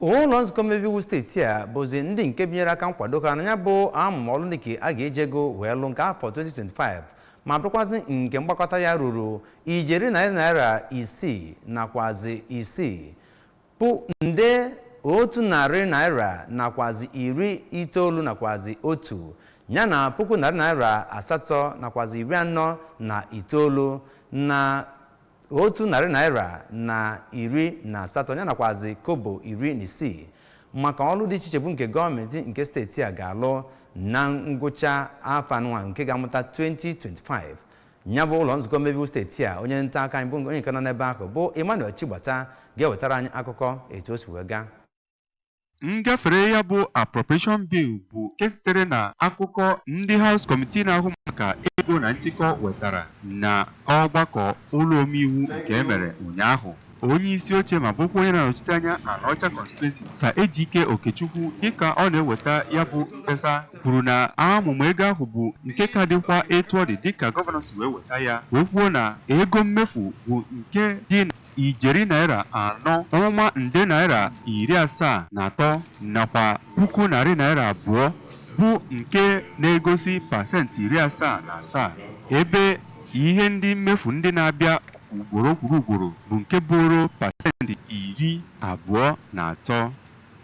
ụlọ nzukọ mmebe iwu steeti a bụzi ndị nke binyere aka nkwado ha na ya bụ amụma ọrụ ndị nke a ga-eji ego wee lụ nke afọ 2025 ma bụrụkwazị nke mgbakọta ya ruru ijeri narị naira isii nakwazi isii bụ nde otu narị naira nakwazi iri itoolu nakwazi otu ya na puku narị naira asatọ nakwazi iri anọ na itoolu na otu narị naira na iri na asatọ ya nakwazi kobo iri na isii maka ọrụ dị iche iche bụ nke gọọmenti nke steeti a ga-alụ na ngwụcha afọ anụnwa nke ga-amụta 2025 ya bụ ụlọ nzukọ mmebe iwu steeti a onye nta akụkọ anyị bụ onye nke nọ n'ebe ahụ bụ Emmanuel Chigbata ga-ewetara anyị akụkọ etu o si wee gaa Ngafere ya bụ appropriation bill bụ nke sitere na akụkọ ndị House Committee na-ahụ maka ego na nchịkọ wetara na ọgbakọ ụlọ omeiwu nke e mere ụnyaahụ. Onye isi oche ma bụkwa onye na-anọchite anya Anaọcha constituency Sir Ejike Okechukwu dịka ọ na-eweta ya bụ mkpesa kwuru na amụma ego ahụ bụ nke ka dịkwa etu ọ dị dịka gọvanọ si wee weta ya wee kwuo na ego mmefu bụ nke dị ijeri naira anọ, ụma nde naira iri asaa na atọ nakwa puku narị naira abụọ bụ nke na-egosi pasentị iri asaa na asaa, ebe ihe ndị mmefu ndị na-abịa ugboro kwuru ugboro bụ nke bụụrụ pasentị iri abụọ na atọ.